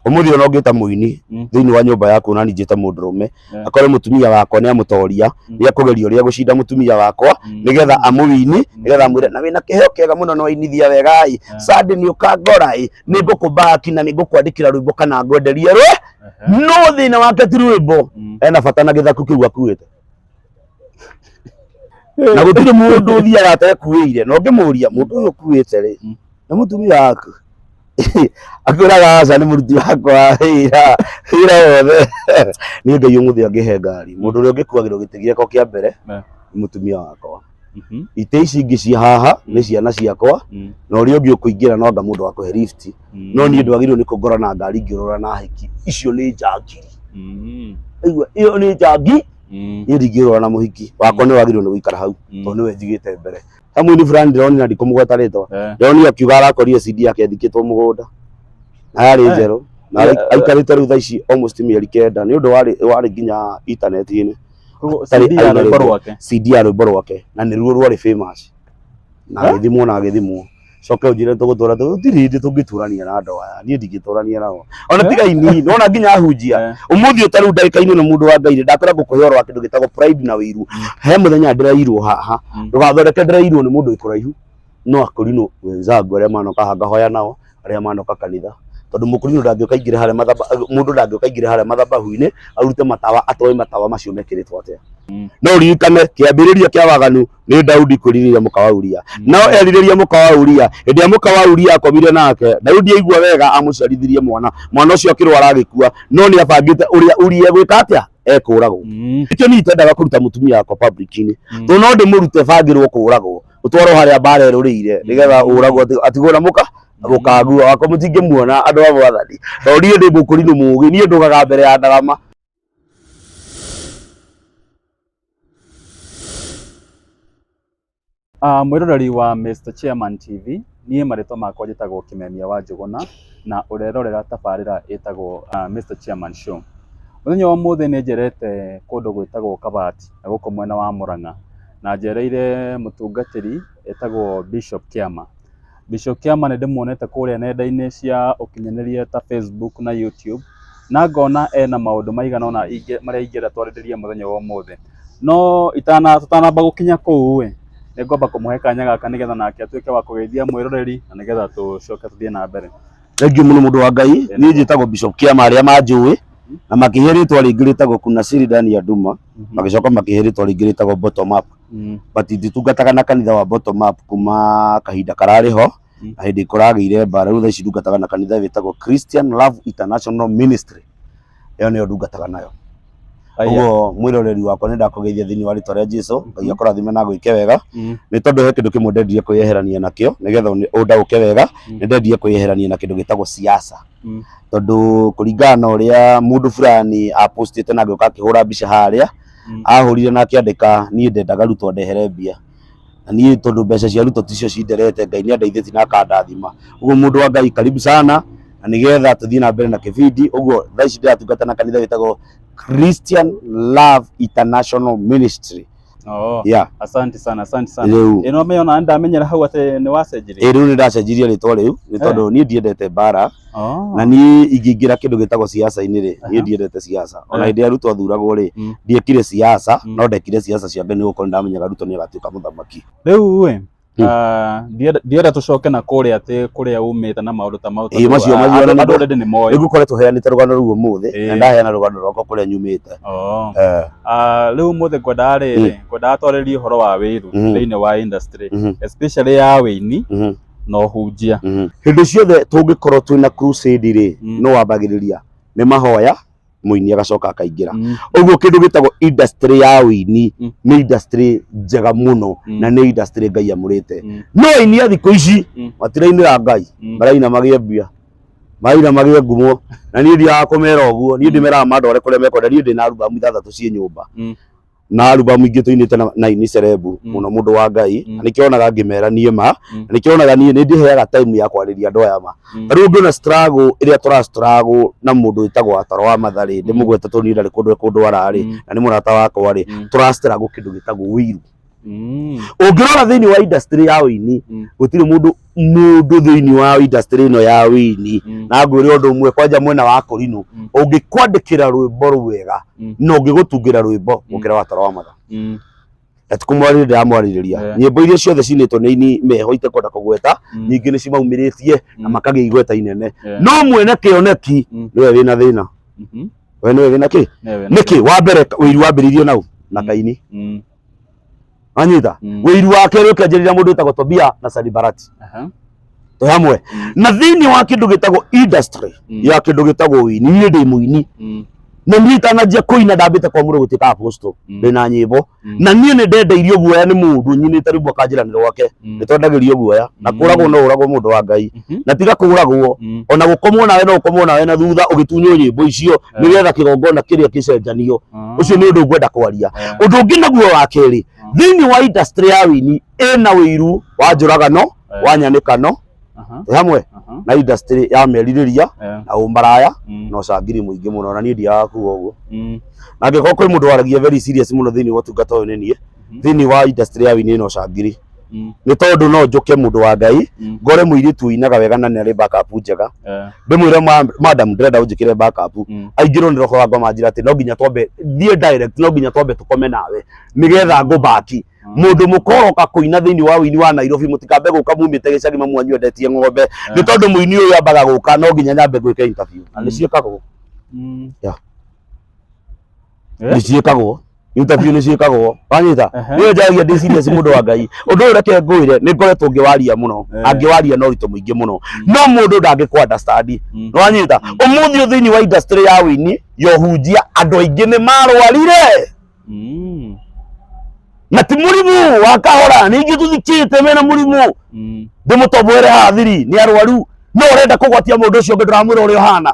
Ũmũthĩ ona ũngĩta mũini Mm. thĩinĩ wa nyũmba yaku na ningĩ ta mũndũrũme Yeah. akore mũtumia wakwa nĩ amũtoria Mm. nĩ akũgeria ũrĩa gũcinda mũtumia wakwa Mm. nĩgetha amũwini nĩgetha amwĩre na wĩna kĩheo kĩega mũno na wainithia wega ĩ Yeah. sande nĩ ũkangora ĩ nĩ ngũkũmbaki na nĩ ngũkwandĩkĩra rwĩmbo kana ngwenderie rwe Ehe. no thĩna wake ti rwĩmbo Mm. ena bata na gĩthaku kĩu akuĩte na gũtirĩ mũndũ ũthiaga atekuĩire na ũngĩmũria mũndũ ũyũ ũkuĩte rĩ Mm. nĩ mũtumia waku akwĩraga aca nĩ mũruti wakwa wa wĩra wĩra wothe nĩ ngai ũmũthĩ angĩhe ngari mũndũ ũrĩa ũngĩkuagĩrwo gĩtĩ gĩakwa kĩa mbere Ne. nĩ mũtumia wakwa Mhm. itĩ ici ingĩ cia haha nĩ ciana ciakwa Mm. na ũrĩa ũngĩ ũkũingĩra no anga mũndũ wakũhe lift Mm. no niĩ ndwagĩrĩirwo nĩ kũngora na ngari ngĩũrora na hiki icio nĩ njangiri Mm. aigua ĩyo nĩ njangi Mm. niĩ ndingĩũrora na mũhiki wakwa nĩ wagĩrĩirwo nĩ gũikara hau Mm. tondũ nĩwe njigĩte mbere hamwe ni fulani ndĩroni na ndikũmũgweta rĩtwa Eh. ndĩroni akiuga arakorire cindi yake athikĩtwo mũgũnda na yarĩ Eh. njerũ na Yeah. aikarĩte rĩu thaa ici almost mĩeri kenda nĩ ũndũ warĩ warĩ nginya intaneti-inĩ Ũguo Atarĩ CD ya aina rwĩmbo rwĩmbo. rwake CD ya rwĩmbo rwake na nĩ ruo rwarĩ famous na Eh? agĩthimwo na agĩthimwo coke ũnjĩre tũgũtũra gũtirĩ hĩndĩ tũngĩtũrania na andũ aya niĩ ndingĩtũrania nao ona tiga ini nona nginya ahunjia Eh. umuthi uta riu ndagika-inĩ ĩno mũndũ wa ngai rĩ ndakwĩra ngũkũhe ũhoro wa kĩndũ gĩtagwo pride na wĩiru he mũthenya ndĩrairwo haha Mm. ndũgathondeke ndĩrairwo nĩ mũndũ wĩ kũraihu no akũrinũ wenzangu arĩa manoka haha ngahoya nao arĩa manoka kanitha tondũ mũkũrinũ ndangĩũka aingĩre harĩa mathaba mũndũ ndangĩũka aingĩre harĩa mathabahu-inĩ arute matawa atoe matawa macio mekĩrĩtwo atĩa no ririkane kĩambĩrĩria kĩa waganu nĩ Daudi kwĩrirĩria mũka wa Uria no erirĩria mũka wa Uria hĩndĩ ĩrĩa mũka wa Uria akomire nake Daudi aigua wega amũciarithirie mwana mwana ũcio akĩrwara agĩkua no nĩ abangĩte ũrĩa Uria egwĩka atĩa ekũragwo Mm, nĩkĩo niĩ itendaga kũruta mũtumia wakwa public-inĩ mm. tondũ no ndĩmũrute bangĩrwo kũragwo ũtwarwo harĩa mbara ĩrũrĩire nĩgetha ũragwo ati- atigwo na mũka gũkagua wakwa mũtingĩmuona andũ a mwathani tondũ niĩ ndĩ mũkũrinũ mũgĩ niĩ ndũgaga mbere ya ndarama Mwĩroreri wa Mister Chairman TV, niĩ marĩtwa makwa njĩtagwo Kĩmemia wa Njũgũna, na ũrerorera tabarĩra ĩtagwo Mister Chairman Show. Mũthenya wa ũmũthĩ nĩ njerete kũndũ gwĩtagwo Kabati na gũkũ mwena wa Mũrang'a, na njereire mũtungatĩri etagwo Bishop Kĩama. Bishop Kiama nĩ ndĩmuonete kũrĩa nenda-inĩ cia ũkinyanĩria ta Facebook na YouTube, na ngona ena maũndũ maigana ũna marĩa ingĩenda twarĩrĩrie mũthenya wa ũmũthĩ. No tũtanamba gũkinya kũu ĩ, nĩ ngwamba kũmũhe kanya gaka nĩgetha nake atuĩke wa kũgeithia mwĩroreri na nĩgetha tũcoke tũthiĩ na mbere. Thengiũ mũno mũndũ wa Ngai, niĩ njĩtagwo Bishop Kiama arĩa manjũĩ, na makĩhe rĩtwa rĩngĩ rĩtagwo Kunasiri Daniel Nduma, magĩcoka makĩhe rĩtwa rĩngĩ rĩtagwo Bottom Up. Mm. but nditungataga na kanitha wa bottom up kuma kahinda kararĩ ho Mm. na hĩndĩ kũragĩire mbara rĩu thaa ici ndungataga na kanitha wĩtagwo Christian Love International Ministry ĩyo nĩyo ndungataga nayo Aya. ũguo mwĩroreri wakwa nĩ ndakũgeithia thĩinĩ wa rĩtwa rĩa Jesu ngai akũrathime na gwĩke wega Mm. nĩ tondũ he kĩndũ kĩmwe ndendirie kwĩyeherania nakĩo nĩgetha ũni- ũndaũke wega Mm. nĩ ndendirie kwĩyeherania na kĩndũ gĩtagwo siasa Mm. tondũ kũringana na ũrĩa mũndũ fulani apostĩte na agĩũka akĩhũra mbica harĩa Mm. ahũrire na akĩandĩka niĩ ndendaga ruto ndehere mbia na niĩ tondũ mbeca cia ruto ticio cinderete ngai nĩ andeithĩtie na akandathima ũguo mũndũ wa ngai karibu sana na nĩgetha tũthiĩ na mbere na kĩbindi ũguo thaa ici ndĩratungata na kanitha wĩtagwo christian love international ministry Oo, yeah asante sana asante sana rĩu ĩno mĩona ndamenyera hau atĩ nĩ wacenjirie ĩrĩu nĩ ndacenjirie rĩtwa rĩu nĩ tondũ niĩ ndiendete mbara Oh. na niĩ ingĩingĩra kĩndũ gĩtagwo siasa-inĩ rĩ Aha. niĩ ndiendete siasa ona Eh. hĩndĩ ya ruto athuragwo rĩ Mm. ndiekire siasa Mm. no ndekire siasa cia ngai nĩ gũkorwo ndamenyaga ruto nĩ agatuĩka mũthamaki Rĩu we, Hmm. ah, ndienda ndienda tũcoke na kũrĩa atĩ kũrĩa umĩte na maũndũ ta mau. Ĩĩ, tondũ, macio- ah, macio andũ- na andũ nĩguo- already nĩ moĩ. rĩu koretwo heanĩte rũgano rũu ũmũthĩ Ĩĩ. na ndaheana rũgano rwakwa kũrĩa nyumĩte Oh. Eh, Ah, rĩu mũthĩ ngwendaga rĩrĩ ngwendaga twarĩrie ũhoro wa wĩru Mhm. thĩinĩ wa industry Mhm. especially ya wĩini mhm. na ũhunjia hĩndĩ ciothe tũngĩkorwo twĩ na crusade rĩ Mm. no wambagĩrĩria nĩ mahoya mũini agacoka akaingĩra Mm. ũguo kĩndũ gĩtagwo industry ya ũini Mm. nĩ industry njega mũno Mm. na nĩ industry ngai amũrĩte Mm. no aini a thikũ ici Mm. matirainĩra ngai Mm. maraina magĩe mbia maraina magĩe ngumo na niĩ ndiaga kũmera ũguo niĩ ndĩmeraga mandware kũrĩa mekwenda niĩ ndĩ na arubamu ithathatũ ciĩ nyũmba Mm. na alubamu ingĩ tũinĩte na- na ini cerebu Mm. mũno mũndũ wa ngai Mm. na nĩkĩo onaga ngĩmera niĩ ma Mm. na nĩkĩo onaga niĩ nĩndĩheaga time ya kwarĩria andũ aya ma Mm. rĩu ndona struggle ĩrĩa tũra struggle na mũndũ wĩtagwo ataro wa matharĩ Mm. ndĩmũgweta tũni ndarĩ kũndũ e kũndũ ararĩ Mm. na nĩ mũrata wakwa rĩ Mm. tũra struggle kĩndũ gĩtagwo wĩiru Mm. ũngĩrora thĩinĩ wa industry ya ũini Mm. gũtirĩ mũndũ mũndũ thĩinĩ wa industry ĩno ya wĩini Mm. na ngwĩre ũndũ ũmwe kwanja mwena wa kũrinũ Mm. ũngĩkwandĩkĩra rwĩmbo rwega Mm. na ũngĩgũtungĩra rwĩmbo Mm. gũkĩra watara wa matha Mm. atikumwarĩrĩ ndĩramwarĩrĩria Yeah. nyĩmbo iria ciothe cinĩtwo nĩ ini meho itekwenda kũgweta Mm. ningĩ nĩ cimaumĩrĩtie na Mm. makagĩa igweta inene Yeah. no mwene kĩoneki Mm. nĩwe wĩna thĩna Mhm. we nĩwe wĩna kĩ Newe, newe. nĩkĩ wa mbere ũiru wambĩrĩirio nau na Mm. kaini Mm. wanyita Mm. wĩiru wa kerĩ ũkĩanjĩrĩria mũndũ wĩtagwo tobia na sanibarati Aha. twĩ hamwe Mm. na thĩinĩ wa kĩndũ gĩtagwo industry Mm. ya kĩndũ gĩtagwo wĩini niĩ ndĩ mũini Mm. na niĩ itananjia kũina ndambĩte kwa mũndũ gũtuĩka aposto Mm. ndĩ na nyĩmbo Mm. na niĩ nĩ ndendeirio guoya nĩ mũndũ nyinĩte rĩmwe akanjĩranĩra gwake Mm. nĩ twendagĩrio guoya na Mm. kũragwo no ũragwo mũndũ wa ngai Hmm? na tiga kũragwo Mm. ona gũkomwo nawe no ũkomwo nawe na thutha ũgĩtunywo nyĩmbo icio Eh. nĩgetha kĩgongona kĩrĩa kĩcenjanio Mm. ũcio nĩ ũndũ ngwenda kwaria Eh. ũndũ ũngĩ naguo wa kerĩ Mm. thĩinĩ wa industry ya wini ĩna ũiru wa njũragano Eh. wa nyanĩkano Aha, ĩ hamwe aha, na industry ya merirĩria eh, na ũmaraya mm, na ũcangiri mũingĩ mũno na niĩ ndiaga kuga ũguo mm, na angĩkorwo kwĩ mũndũ waragia very serious mũno thĩinĩ wa ũtungata ũyũ nĩ niĩ Mhm. thĩinĩ wa industry ya wini ĩna ũcangiri Mm. nĩ tondũ no njũke mũndũ wa ngai Mm. ngore mũirĩtu ũinaga wega na nĩarĩ backup njega Eh, ndĩmwĩre "Ma- madam ndĩrenda ũnjĩkĩre backup mm. aingĩrwo nĩ roho wa ngoma njĩra atĩ no nginya twambe thiĩ direct no nginya twambe tũkome nawe nĩgetha ngũbaki mũndũ mũkoroka kũina thĩinĩ wa ũini wa Nairobi mũtikambe gũka mumĩte gĩcagi mamwanyu endetie ng'ombe nĩ tondũ mũini ũyũ ambaga gũka no nginya nyambe gwĩka interview na nĩ Mm. ciĩkagwo Mm. Yeah. nĩ ciĩkagwo interview nĩ ciĩkagwo wanyita Aha. niyo njaragia ndĩ serious mũndũ wa ngai ũndũ ũyũ reke ngwĩre nĩ ngoretwo ngĩwaria mũno Eh. angĩwaria no ũritũ mũingĩ mũno no mũndũ ndangĩkwa understand Mm. wanyita ũmũthĩ ũyũ thĩinĩ wa industry ya wĩini ya ũhunjia andũ aingĩ nĩ marwarire Mm. na ti mũrimũ wa kahora ningĩ tũthikĩte mena mũrimũ Mm. ndĩmũtoboere hathiri nĩ arwaru no ũrenda kũgwatia mũndũ ũcio ũngĩ ndũramwĩra ũrĩa ũhana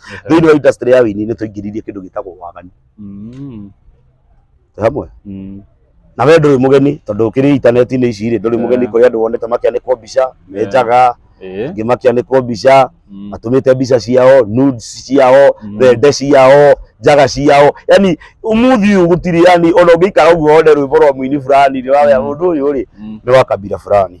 thĩinĩ wa industry ya wĩini nĩ twaingĩririe kĩndũ gĩtagwo waganu Mm. Twĩ hamwe Mm. na we ndũrĩ mũgeni tondũ ũkĩrĩ intaneti-inĩ ici rĩ ndũrĩ mũgeni Yeah. kũrĩ andũ wonete makĩanĩkwo mbica me Yeah. njaga Eh. angĩ makĩanĩkwo mbica Mm. matũmĩte mbica ciao nudes ciao Mm. thende ciao njaga ciao yani umuthi uyu gutiri yani ona ungiikara uguo one rwimbo rwa muini fulani ni wawe Mm. mundu uyu ri Mm. ni wa kabira fulani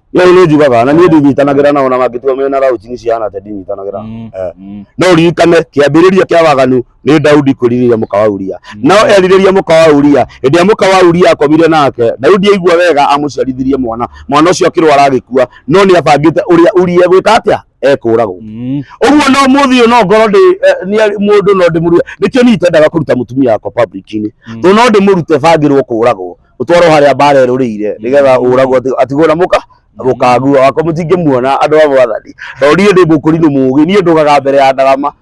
no nä njugaga na niä ndinyitanagä ra nao na mangä tua mena raucini cihana te ndinyitanagä ra Mm, Eh. mm. no ririkane kä ambä rä ria kä a waganu nä daudi kwä rirä ria må ka wa uria no erirä ria må ka wa uria hä ndä ä må ka wa uria akomire nake daudi aigua wega amå ciarithirie mwana mwana å cio akä rwara agä kua no nä abangä te å rä a uria egwä ka atä a ekå ragwo Mm. ũguo no mũthĩ no ngorwo ndĩ eh, nĩ mũndũ no ndĩmũrue nĩkĩo niĩ itendaga kũruta mũtumia wakwa public-inĩ Mm. tondũ no ndĩmũrute bangĩrwo kũragwo utwarwo haria mbara irurire nigetha mm. uragwo atigwo na muka rukangu wakwa mutingimuona andu a mwathani to nie ndi mukurinu mugi nie ndugaga mbere ya ndarama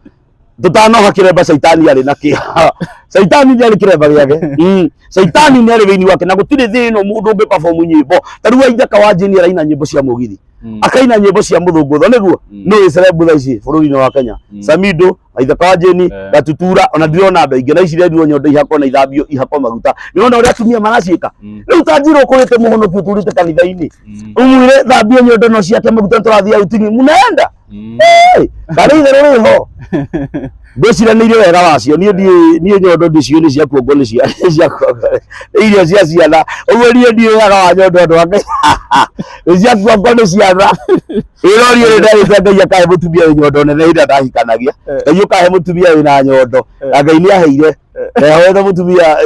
tutanoha kiremba shaitani ari na kiha shaitani ni ari kiremba giake mm. shaitani ni ari thiini wake na gutiri thi ino mundu ungi perform nyimbo tariu aithaka wa jini araina nyimbo cia mugithi mm. akaina nyimbo cia muthungutho niguo mm. no icerebu tha ici bururi-ini wa kenya samido maithe kwanjini Eh. gatutura ona ndirona andå aingä na ici rendirwo nyondo ihako na ithambio ihako maguta nä rona å rä a atumia maraciä ka Mm. rä u tanjirwo kå rä te må honoki å tå rä te kanitha-inä Mm. umwire thambio nyondo no ciake maguta tå rathiä autini munaenda Mm. karä ithe rå rä ho ndwĩciranĩire wega wacio niĩ ndiĩ niĩ nyondo ndiciũ nĩ ciakuo ngo nĩ cia nĩ ciakuo ngo nĩ irio cia ciana ũguo niĩ ndiĩ wega wa nyondo andũ angĩ nĩ ciakuo ngo nĩ ciana irori ri ndari cia ngai akahe mutumia wi nyondo nene ira ndahikanagia Eh. ngai ukahe mutumia wi na nyondo Eh. na ngai ni aheire ehoete mutumia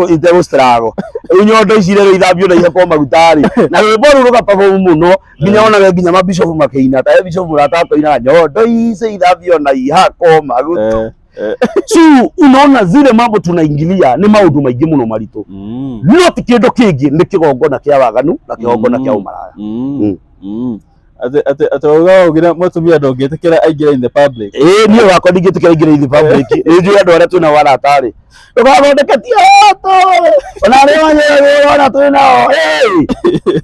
itegu strago riu nyondo ici rä ithambio na ihekwo maguta rä na rwä mbo rå rå gapabomu må no nginya onage nginya mabicobu makä ina tae bicobu ratakoina nyondo ici ithambio na ihakwo maguta Eh. Eh. so unaona zile mambo tunaingilia ni maundu maingi muno maritu Mm. no ti kindu kingi ni kigongona kia waganu na kigongona kia Mm. umaraya Mm. Mm. Mm. Ate ate ate wauga ugira mutumia ndongitikira aingira in the public. ĩĩ niĩ wakwa ndingĩtĩkĩra ingĩra ithibabu ĩngĩ nĩ njũĩ andũ arĩa twĩna waratarĩ ndũgathondeke tiato ona rĩ wanyewona twĩ nao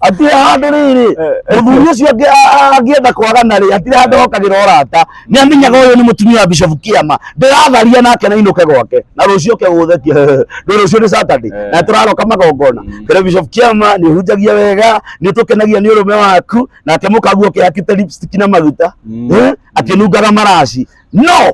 atirĩ handũ rĩrĩ mũthuri ũcio angĩ- a- a- angĩenda kwagana rĩ atirĩ handũ hokagĩra ũrata nĩ amenyaga ũyũ nĩ mũtumia wa bishop kĩama ndĩratharia nake na inũke gwake na rũciũ ke gũthetie ndũ rũciũ nĩ saturday Eh. na tũraroka magongona Mm. kĩrĩa bishop kĩama nĩ hunjagia wega nĩ tũkenagia nĩ ũrũme waku nake mũkaguo kĩhakĩte lipstick na maguta Mm. Eh, akĩnungaga maraci no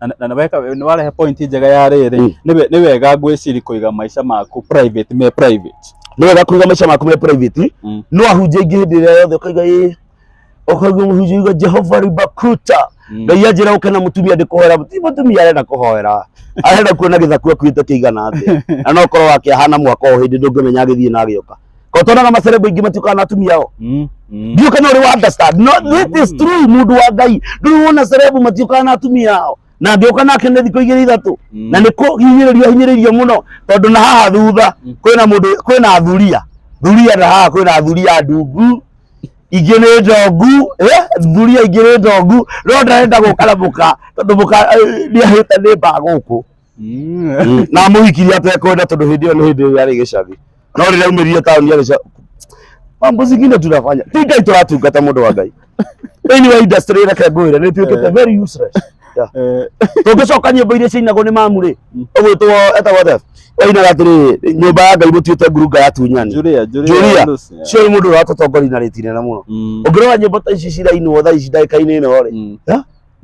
na- na naweka nĩ warehe point njega ya Mm. rĩrĩ nĩ we- nĩ wega ngwĩciri kũiga maica maku private me private nĩ wega kũiga maica maku me private Mm. no ahunjia ingĩ hĩndĩ ĩrĩa yothe ũkaiga ĩ ũkaigua mũhunjia uga jehova ribakuta Mm. ngai anjĩra ũke na mũtumia ndĩkũhoera ti mũtumia arenda kũhoera arenda kuona gĩthaku akuĩte kĩigana atĩa na no korwo wake ahana mwaka o hĩndĩ ndũngĩmenya agĩthiĩ na agĩũka ko tonaga macerebu ingĩ matiũkaga na atumia ao Mm. Mm. ndiũ kana ũrĩ wa understand no it is true mũndũ wa ngai ndũrĩ wona cerebu matiũkaga na atumia ao na angĩũka nake nĩ thikũ igĩrĩ ithatũ Mm. na nĩ kũhinyĩrĩrio ahinyĩrĩirio mũno tondũ na haha thutha Mm. kwĩna mũndũ kwĩna athuria thuria na haha kwĩna athuria ndungu ingĩ nĩ ndongu eh, thuria ingĩ nĩ ndongu no ndarenda gũka na mũka tondũ mũka eh, nĩahĩte nĩ mbaa gũkũ na mũhikirie atekwenda tondũ hĩndĩ ĩyo nĩ hĩndĩ ĩyo yarĩ gĩcathi no rĩrĩa aumĩrire taũni yarĩ ca- mambo zingine tunafanya ti ngai tũratungata mũndũ wa ngai thĩinĩ wa industry reke ngwĩre nĩ tuĩkĩte very useless Yeah. tũngĩcoka nyĩmbo iria ciinagwo nĩ mamu rĩ ũgwĩtwo etagwo atĩa wainaga atĩrĩ nyũmba ya ngai mũtuĩte ngurunga ya tunyani Julia, Julia, Julia, Lucy. cio nĩ mũndũ ũratũtongoria na rĩti nene mũno Mm, ũngĩrora nyĩmbo ta ici cirainwo thaa ici ndagĩka-inĩ ĩno rĩ mm.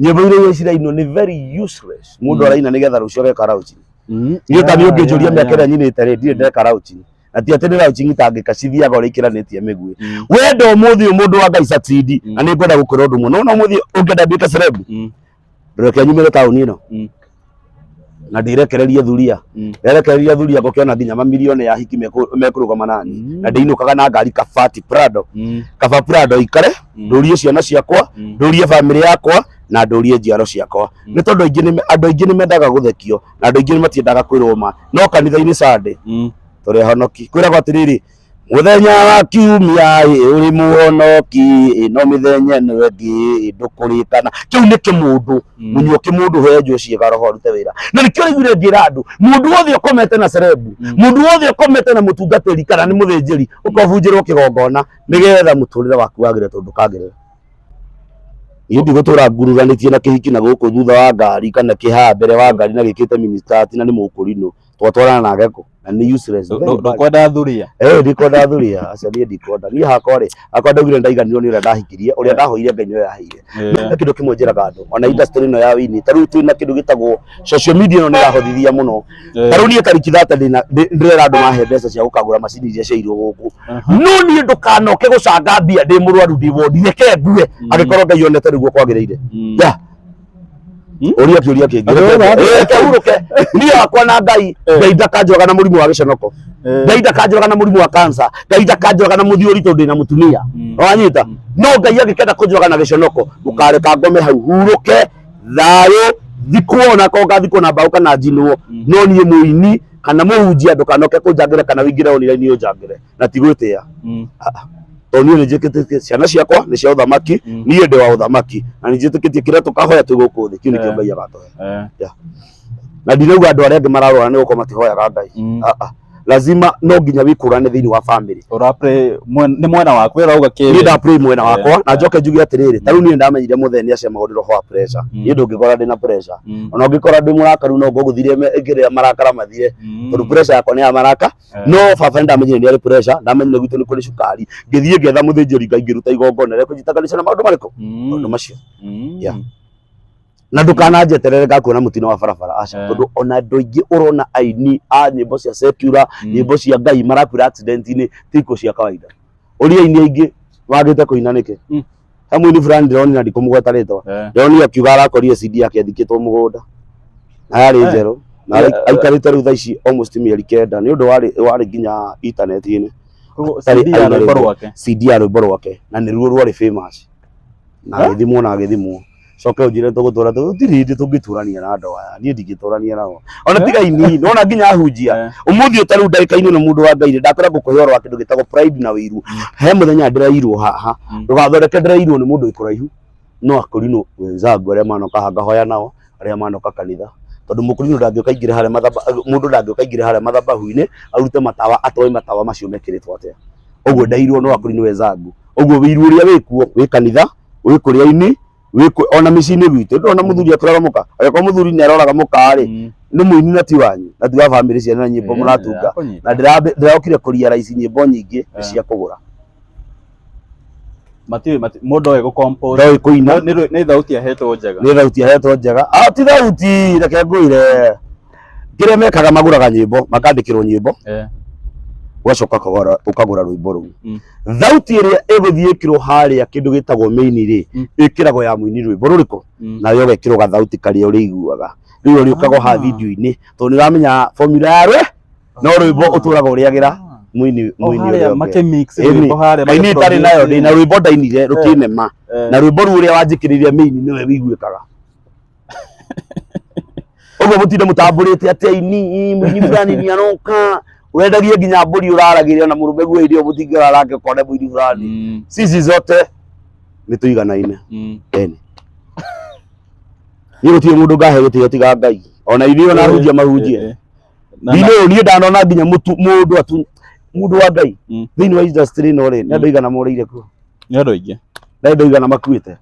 nyĩmbo iria iria cirainwo nĩ very useless mũndũ Mm. araina nĩgetha rũciũ ageka raucini Mm. niĩ ta niĩ Yeah, ũngĩnjũria yeah, mĩaka ĩrĩa yeah. nyinĩte rĩ ndirĩ ndeka raucini na ti atĩ nĩ raucini itangĩka cithiaga ũrĩa ikĩranĩtie mĩguĩ Mm. wenda ũmũthĩ ũyũ mũndũ wa ngai satindi Mm. na nĩ ngwenda gũkwĩra ũndũ mũno na ũmũthĩ ũngĩenda nduĩke cerebu Mm. reke nyumĩre taũni ĩno Mm. na ndirekererie thuria Mm. nderekererie thuria ngũkĩona nginya mamirioni ya hiki mekũ- mekũrũgama nani Mm. na ndĩinũkaga na ngari kabati prado Mm. kaba prado ikare Mm. ndũrie ciana ciakwa Mm. ndũrie bamĩrĩ yakwa na ndũrie njiaro ciakwa Mm. nĩ tondũ aingĩ nĩ- andũ aingĩ nĩ mendaga gũthekio na andũ aingĩ nĩ matiendaga kwĩrwo ma no kanitha-inĩ sande Mm. tũrĩ ahonoki kwĩragwo atĩrĩrĩ Mũthenya wa kiumia ĩ ũrĩ muonoki ĩ no mĩthenya ĩno ĩngĩ ĩ ndũkũrĩkana. Kĩu nĩ kĩmũndũ Mm. munyuo kĩmũndũ henjwo ciĩga roho arute wĩra. Na nĩkĩo ũraiguire ngĩra andũ mũndũ wothe ũkomete na cerebu Mm. mũndũ wothe ũkomete na mũtungatĩri kana nĩ mũthĩnjĩri ũkobunjĩrwo kĩgongona nĩgetha mũtũrĩre waku wagĩre tondũ ndũkagĩrĩra. Niĩ ndigũtũra ngururanĩtie na kĩhiki na gũkũ thutha wa ngari kana kĩhaa mbere wa ngari na gĩkĩte mini skirt na nĩ mũkũrinũ twatwarana nake kũ? na nĩ useless very bad. ndukwenda thuria Eh, ndikonda thuria acio niĩ ndikonda niĩ hakwa rĩ hakwa ndaugire ndaiganirwo nĩ ũrĩa ndahikirie ũrĩa Eh. ndahoire ngai nĩwe yaheire Eh, na kĩndũ kĩmwe njĩraga andũ ona industry ĩno ya wini ta rĩu twĩna kĩndũ gĩtagwo social media ĩno nĩ ĩrahothithia mũno eh, ta rĩu niĩ tariki thate ndĩna- ndĩ- ndĩrera andũ mahe mbeca cia gũkagũra macini iria ciairwo gũkũ aha. no niĩ ndũkanoke gũcanga mbia ndĩ mũrwaru ndĩ wondi reke ngue Mm. angĩkorwo ngai onete nĩguo kwagĩrĩire Mm. ya uria kiuria kingi Andũ othe ake. Eh, reke hurũke niĩ hakwa na ngai Eh. ngai ndakanjũraga na mũrimũ wa gĩconoko Eh. ngai ndakanjũraga na mũrimũ wa kansa ngai ndakanjũraga na mũthiũri tondũ ndĩna mũtumia Mm. wanyita no ngai angĩkenda kũnjũraga na gĩconoko mũkareka ngome hau hurũke thayũ thikwo ona ko ngathikwo na mbaũ kana njinwo no niĩ mũini kana mũhunjia ndũkanoke kũnjangĩre kana wĩingĩre online ũnjangĩre na ti gwĩtĩa Mm. tondũ niĩ nĩnjĩkĩtĩtie ciana ciakwa nĩ cia ũthamaki Mm. niĩ ndĩ wa ũthamaki na nĩnjĩtĩkĩtie kĩrĩa tũkahoya twĩ gũkũ thĩ kĩu nĩkĩo Eh. ngai agatũhe Eh. na ndirauga andũ arĩa angĩ mararwara nĩ gũkorwo matihoyaga ngai Mm. Ah, ah. lazima no nginya wĩkũrane thĩinĩ wa bamĩrĩ Ũrapre mwen- nĩ mwena waku wĩra uga niĩ kĩrĩ. ndapray mwena Eh, wakwa na eh. njoke njuge atĩrĩrĩ ta rĩu niĩ ndamenyire mũthee nĩ acemagwo nĩ roho wa pressure Mm. niĩ ndũngĩkora ndĩ na pressure Mm. ona ũngĩkora ndĩ mũrakaru no ngũgũthire ngĩrĩa marakara mathire Mm. tondũ pressure yakwa nĩ ya maraka no baba nĩ ndamenyire nĩ arĩ pressure ndamenyire gwitũ nĩ kũrĩ cukari ngĩthiĩ ngetha mũthĩnjĩri ngai ngĩruta igongona rĩa kũnjitaganisha na maũndũ marĩkũ Mm. maũndũ macio Mm. Yeah. na ndũkananjeterere ngakuona mũtino wa barabara aca Eh. tondũ ona andũ aingĩ ũrona aini a nyĩmbo cia secular Mm. nyĩmbo cia ngai marakuĩra accident-inĩ ti ikuũ cia kawaida ũria aini aingĩ magĩte kũina nĩkĩ Mm. he mũini fulani ndĩronire na ndikũmũgweta rĩtwa Eh. ndĩronire akiuga arakorire CD yake ĩthikĩtwo mũgũnda na yarĩ Eh. njerũ na Yeah, ai- aikarĩte rĩu thaa ici almost mĩeri kenda nĩ ũndũ warĩ warĩ nginya intaneti-inĩ Koguo Tarĩ CD ya aina rwĩmbo rĩmwe. rwake CD ya rwĩmbo rwake na nĩruo rwarĩ famous na Eh? agĩthimwo na agĩthimwo coke unjire tugutura tu ndiri ndi tungitũrania na andũ aya niĩ ndingĩtũrania nao ona tiga ini nona nginya hunjia Eh. umuthi utari ndagika-inĩ na mundu wa ngai nĩ ndakwĩra ngũkũhe ũhoro wa kĩndũ gĩtagwo pride na wĩiru he mũthenya ndĩrairwo haha Mm. ndũgathondeke ndĩrairwo nĩ mũndũ ikuraihu no akũrinũ wenzangu arĩa manoka haha ngahoya nao arĩa manoka kanitha tondũ mũkũrinũ ndangĩũka ingĩre harĩa mathamba mũndũ ndangĩũka ingĩre harĩa mathabahu-inĩ arute matawa atoe matawa macio mekĩrĩtwo atĩa ũguo ndairwo no akũrinũ wenzangu ũguo wĩiru ũrĩa wĩkuo wĩ kanitha wĩ kũrĩa-inĩ wĩ kũ- ona mĩciĩ-inĩ gwitũ ndona mũthuri atũraga mũka agĩkorwo mũthuri nĩ aroraga mũka-rĩ nĩ mũini na ti wanyu na ti wa bamĩrĩ cianyu na nyĩmbo mũratunga na ndĩrambe- ndĩrokire kũria raici nyĩmbo nyingĩ nĩ Eh. cia kũgũra matiũĩ mati- mũndũ oĩ gũkompũ ndoĩ kũina nĩ thauti ahetwo njega nĩ thauti ahetwo njega Ah, ti thauti reke ngwĩre kĩrĩa mekaga magũraga nyĩmbo makandĩkĩrwo nyĩmbo Eh. ũgacoka ũkagũra- ũkagũra rwĩmbo rũu Mm. thauti ĩrĩa ĩgũthiĩ ĩkĩrwo harĩa kĩndũ gĩtagwo mĩini rĩ Mm. ĩkĩragwo ya mũini rwĩmbo rũrĩkũ Mm. nayo ũgekĩrwo gathauti karĩa ũrĩiguaga rĩu ũrĩũkaga Ah. ha video-inĩ tondũ nĩ ũramenya formula ya rwe no rwĩmbo Ah. ũtũraga ũrĩagĩra Ah. mũini O mũini harĩa ũrĩa ũngĩ. makĩmix Ĩni, rwĩmbo harĩa kaini magĩ- itarĩ nayo ndĩ na rwĩmbo ndainire rũkĩnema Eh. na rwĩmbo rũu ũrĩa wanjĩkĩrĩria mĩini nĩwe wĩiguĩkaga ũguo mũtinde mũtambũrĩte atĩ aini mũini fulani nĩ aroka wendagie nginya mbũri ũraragĩrĩa na mũrũme guo hĩndĩ ĩyo mũtingĩra rake ũkone mũini fulani Mm, sisi zote nĩ tũiganaine mm. ene niĩ gũtirĩ mũndũ ngahe gũtiga tiga ngai ona ithuĩ ona hunjia mahunjie Eh, eh. Na- ndinĩ ũyũ niĩ ndanona nginya mũtu- mũndũ atu mũndũ wa ngai Mm. thĩinĩ wa industry ĩno rĩ nĩ andũ Mm. igana morĩire kuo nĩ andũ aingĩ na andũ igana makuĩte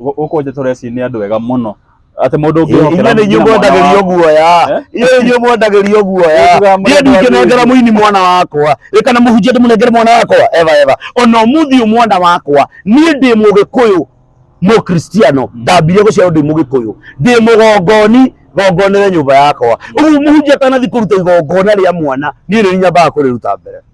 Gũkũ nja tũreci nĩ andũ ega mũno atĩ mũndũ ũngĩhokera nginya mwana mwendagĩrio waku. guoya Eh? inyuĩ inyuĩ mwendagĩrio guoya Wĩtugaga mũndũ niĩ ndingĩnengera athĩni. mũini mwana wakwa ĩ kana mũhunjia ndĩmũnengere mwana wakwa eva eva ona ũmũthĩ ũyũ mwana wakwa niĩ ndĩ mũgĩkũyũ mũkristiano ndambire gũciarwo ndĩ mũgĩkũyũ ndĩ mũgongoni gongonere nyũmba yakwa ũguo mũhunjia atanathi kũruta igongona rĩa mwana niĩ nĩ nyambaga kũrĩruta mbere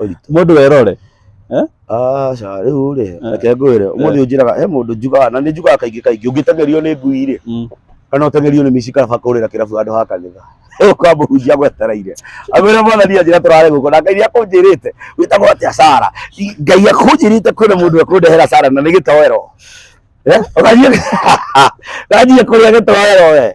ũritũ mũndũ werore aca rĩu rĩ Eh. reke ngwĩre ũmũthĩ ũnjĩraga he mũndũ njugaga na nĩ njugaga kaingĩ kaingĩ ũngĩteng'erio nĩ ngui rĩ Mm. kana ũteng'erio nĩ mici kaba kũrĩra kĩrabu handũ ha kanitha ũkamũhunjia gwetereire amwĩra mwathani anjĩra tũrare gũkũ na ngai nĩ akũnjĩrĩte wĩtagwo atĩa sara I- ngai akũnjĩrĩte kwĩna mũndũ ekũndehera sara na nĩ gĩtoero Eh, ũgathiĩ- ũgathiĩ kũrĩa gĩtoero we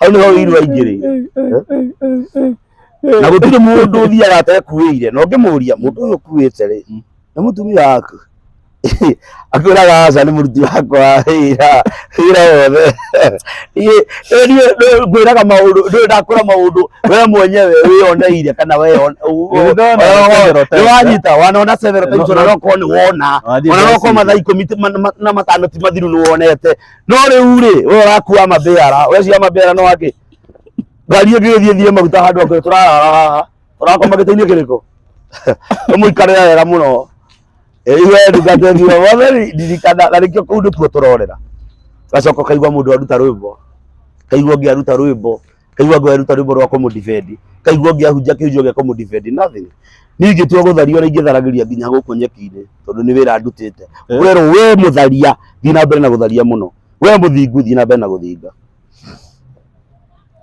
hau nĩho ũiru aingĩ rĩ na gũtirĩ mũndũ ũthiaga atekuĩire na ũngĩmũria mũndũ ũyũ ũkuĩte rĩ Mm. nĩ mũtumia waku akwĩraga aca nĩ mũruti wakwa wa wĩra wĩra wothe Niĩ- niĩ- niĩ ndũ- ngwĩraga maũndũ ndũĩ ndakwĩra maũndũ we mwenyewe wĩyoneire kana weyo- u- u- Nĩndona weyo- several times, nĩwanyita wanona several times, No- ona no- nokorwo nĩ wona Wathiĩ ona no Messi. korwo mathaa ikũmi ti- ma- ma- na matano ti mathiru nĩ wonete no riu ri we urakua mathira weciria mathira no aki ngari ĩngĩ gĩthiĩ thiĩ maguta handũ akũrĩ tũrarara haha tũrakoma gĩtĩ-inĩ kĩrĩkũ ũmũikarĩra wega mũno iwe ndungata thiĩ wothe ndirikana na nĩkĩo kũu nĩkuo tũrorera gacoka kaigua mũndũ aruta rwĩmbo kaigua ũngĩ aruta rwĩmbo kaigua ngwa ruta rwimbo rwa kumu defend kaigua ngiahunjia kihunjio gia kumu defend nothing ni ingitua guthario na ingitharagiria nginya guku nyeki-ini tondu ni wira ndutite Eh. werwo we mutharia thi na mbere na gutharia muno we muthingu thi na mbere na guthinga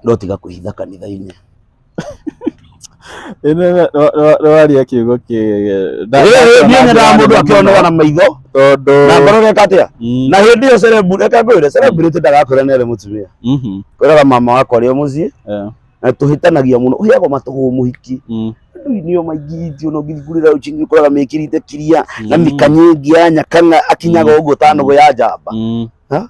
no tiga kuhitha kanitha-ini nĩwarĩa kiugo kĩega Nda- Rĩrĩ niĩ ndakĩona nyendaga njĩra mũndũ nene akĩonaga mũno. na maitho tondũ na ngoro reka atĩa Mm, na hĩndĩ ĩyo cerebu reka ngwĩre celebrity ndagakwĩra nere mũtumia mhm, kwĩraga mama wakwa rĩo mũciĩ eh, na tũhĩtanagia mũno ũheagwo matũhũ mũhiki mm, nduinio maingĩhĩtio no ngithingurĩra ũcingi ũkoraga mĩkĩrĩte kiria na mm, mĩkanyĩngia nyakanga akinyaga ũguo ta nũgũ ya njamba mm. Ha?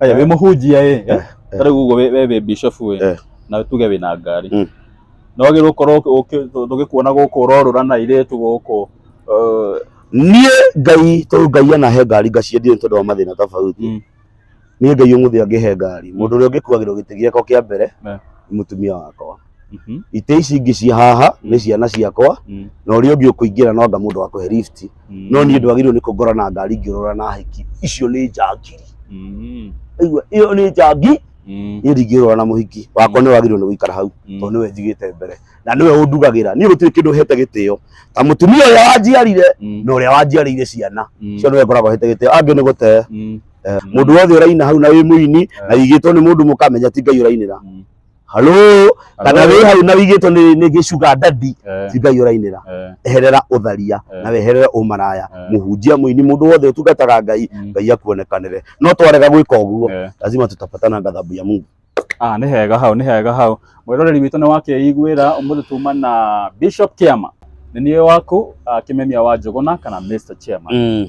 Aya wĩ mũhunjia ĩ. Eh, eh. Tarĩu ũguo we we wĩ bishop ĩ. Eh. Na tuge wĩ na ngari. Mm. No wagĩrĩirwo gũkorwo ũkĩ- ũkĩ- tũ- tũgĩkuona gũkũ ũrorũra na airĩtu gũkũ. eh, niĩ ngai tondũ ngai anahe ngari ngaciendie nĩ tondũ wa mathĩna tofauti Mm. niĩ ngai ũmũthĩ angĩhe ngari mũndũ ũrĩa ũngĩkuagĩrwo gĩtĩ gĩakwa kĩa mbere Ne. nĩ mũtumia wakwa Mhm. itĩ ici ingĩ cia haha nĩ ciana ciakwa Mm. na ũrĩa ũngĩ ũkũingĩra no anga mũndũ wakũhe lift Mm. no niĩ ndwagĩrĩirwo nĩ kũngora na ngari ngĩũrora na hiki icio nĩ njangiri Mm. aigua ĩyo nĩ njangi Mm. niĩ ndingĩũrora na mũhiki wakwa nĩ wagĩrĩirwo nĩ gũikara hau Mm. tondũ nĩwe njigĩte mbere na nĩwe ũndugagĩra niĩ gũtirĩ kĩndũ hete gĩtĩo ta mũtumia ũrĩa wanjiarire Mm. na ũrĩa wanjiarĩire ciana Mm. cio nĩwe ngoragwo hete gĩtĩo angĩ nĩ gũte Mm. mũndũ wothe ũraina hau na wĩ mũini na igĩtwo nĩ mũndũ mũkamenya ti ngai ũrainĩra Mm. halo kana wĩ hau na wigĩtwo nĩ nĩ gĩcuga ndandi Eh, cingai ũrainĩra eh, eherera ũtharia Eh. na weherere ũmaraya Eh. mũhunjia mũini mũndũ wothe ũtungataga ngai mm, ngai akuonekanĩre no twarega gwĩka ũguo eh. lazima tutapatana gathabu ya mungu Ah, nĩ hega hau nĩ hega hau mwĩroreri witũ nĩ wakeiguĩra ũmũthĩ tuma na bishop kiama nĩ niĩ waku ah, kĩmemia wa njũgũna kana mr chairman mm.